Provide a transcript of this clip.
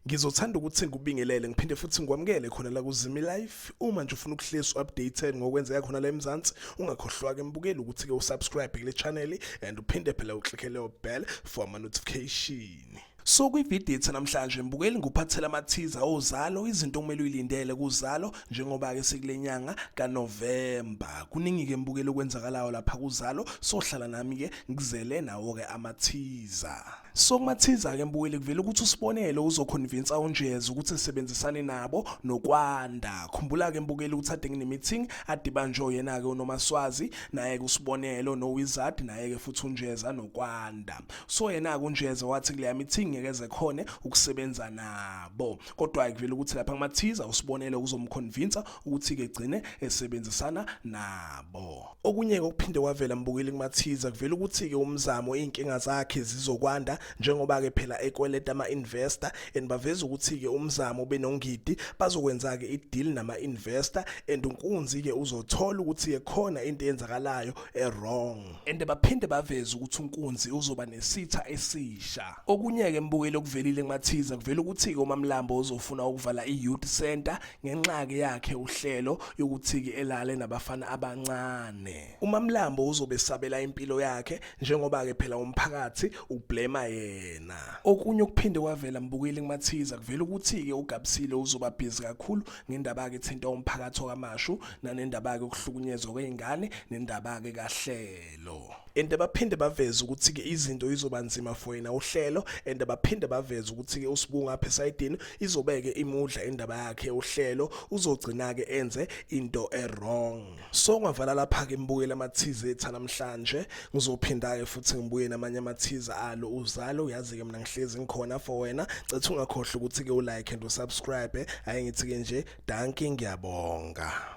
Ngizothanda ukuthi ngikubingelele ngiphinde futhi ngikwamukele khona la kuZimi Life. Uma nje ufuna ukuhlezi updated ngokwenzeka khona la eMzansi, ungakhohlwa ke mbukeli ukuthi ke usubscribe kule channel and uphinde phela uclick leyo bell for ama notification. So kwividiyo ethe namhlanje mbukeli nguphathela amathiza ozalo izinto okumele uyilindele kuzalo njengoba ke sikule nyanga kaNovember kuningi ke mbukeli okwenzakalayo lapha kuzalo sohlala nami ke ngizele nawo ke amathiza so kumathiza ke mbukeli kuvela ukuthi usibonelo uzoconvince unjeza ukuthi esebenzisane nabo nokwanda khumbula ke mbukeli ukuthi ade nginemeeting adibanjwe yena ke unomaswazi naye kusibonelo nowizard naye ke futhi unjeza nokwanda so yena-ke unjeza wathi kuleya mithingi ngeke zekhone ukusebenza nabo kodwa-ke kuvele ukuthi lapha kumathiza usibonele ukuzomkhonvinsa ukuthi-ke gcine esebenzisana nabo okunye-ke okuphinde kwavela mbukeli kumathiza kuvele ukuthi-ke umzamo iy'nkinga zakhe zizokwanda njengoba-ke phela ekweleta ama-investor and baveza ukuthi-ke umzamo benongidi bazokwenza-ke ideal nama-investor and unkunzi-ke uzothola ukuthi-ke khona into eyenzakalayo e-wrong and baphinde baveze ukuthi unkunzi uzoba nesitha esisha okunye-ke mbukeli okuvelile kumathiza kuvela ukuthi-ke umamlambo uzofuna ukuvala i-youth center ngenxa-ke yakhe uhlelo yokuthi-ke elale nabafana abancane umamlambo uzobe sabela impilo yakhe njengoba-ke phela umphakathi ublema yena okunye okuphinde kwavela mbukeli kumathiza kuvela ukuthi-ke ugabisile uzobabhizi kakhulu ngendaba-ke ethinta umphakathi okamashu nanendaba-ke ukuhlukunyezwa kwey'ngane nendaba-ke kahlelo and baphinde baveze ukuthi-ke izinto izoba nzima for yena uhlelo and baphinde baveze ukuthi-ke usibunga apha esayidini izobeke imudla indaba yakhe uhlelo uzogcina-ke enze into e-wrong so ngavala lapha ke ngibuyele amathize etha namhlanje ngizophinda ke futhi ngibuye namanye amathize alo uzale uyazi ke mina ngihlezi ngikhona for wena cethu ungakhohle ukuthi ke ulike and usubscribe ayingithi ke nje dankie ngiyabonga